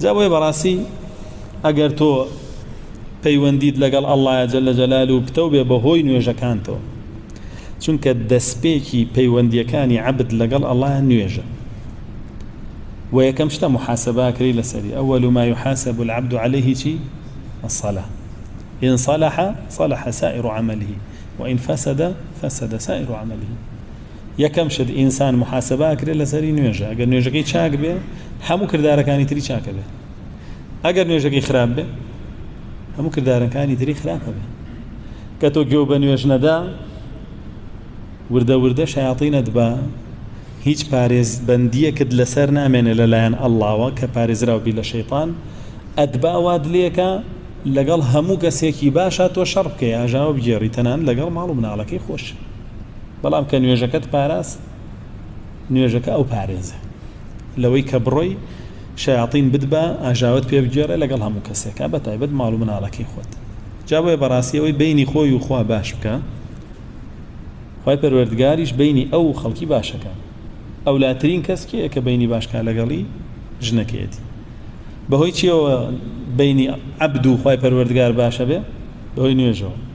جا بۆیە بەڕاستی ئەگەر تۆ پەیوەندیت لەگەڵ ئەڵڵایە جەلە جەلال و پتەو بێ بەهۆی نوێژەکانتەوە چونکە دەستپێکی پەیوەندیەکانی عەبد لەگەڵ ئەڵڵایە نوێژە و یەکەم شتە محاسباکری لەسەری ئەوەل ما يحاسب العبد عليه چی الصلاة إن صلح صلح سائر عمله وإن فسد فسد سائر عمله یەکەم شت ئینسان محاسبە ئەکرێت لەسەری نوێژە ئەگەر نوێژەکەی چاک بێ هەموو کردارەکانی تری چاکە بێ ئەگەر نوێژەکەی خراپ بێ هەموو کردارەکانی تری خراپە بێ کە تۆ گوێ بە نوێژ نەدا وردە وردە شیاطینت بە هیچ پارێزبەندیەکت لەسەر نامێنێ لەلایەن ئەللاوە کە پارێزراو بی لە شەیطان ئەتبا واد لێکە لەگەڵ هەموو کەسێکی باشە تۆ شەڕ بکەی ئاژاوە بگێڕی تەنان لەگەڵ ماڵ و مناڵەکەی خۆش بەڵام کە نوێژەکەت پاراست نوێژەکە ئەو پارێزە لەوەی کە بڕۆی شیاطین بدبا ئاژاوت پێ بگێڕێ لەگەڵ هەموو کەسێکە بە تایبەت ماڵ و مناڵەکەی خۆت جا بۆیە بەڕاستی ئەوەی بینی خۆی و خوا باش بکە خی پەروەردگاریش بینی ئەو خەڵکی باشەکە ئەولاترین کەس کێ کە بینی باشکە لەگەڵی ژنەکەیەتی بەهۆی چیەوە بینی عبد و خی پەروەردگار باشە بێ بەهۆی نوێژەوە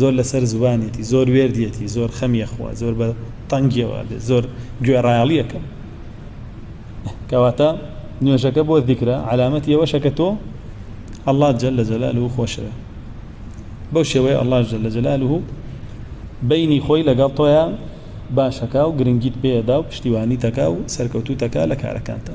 زۆر لەسەر زوبانیەتی زۆر وێردیەتی زۆر خەمی ئەخوا زۆر بە تەنگیەوە ئەبێت زۆر گوێڕایەڵی ئەکەم کەواتە نوێژەکە بۆ ذیکرە علامەتی ئەوەشە کە تۆ ئەڵڵا جەل لە جەلال و خۆشەوێ بەو شێوەیە ئەڵڵا جەل لە جەلال و بینی خۆی لەگەڵ تۆیان باشەکە و گرنگیت پێدا و پشتیوانی تەکا و سەرکەوتوو تەکا لە کارەکانتە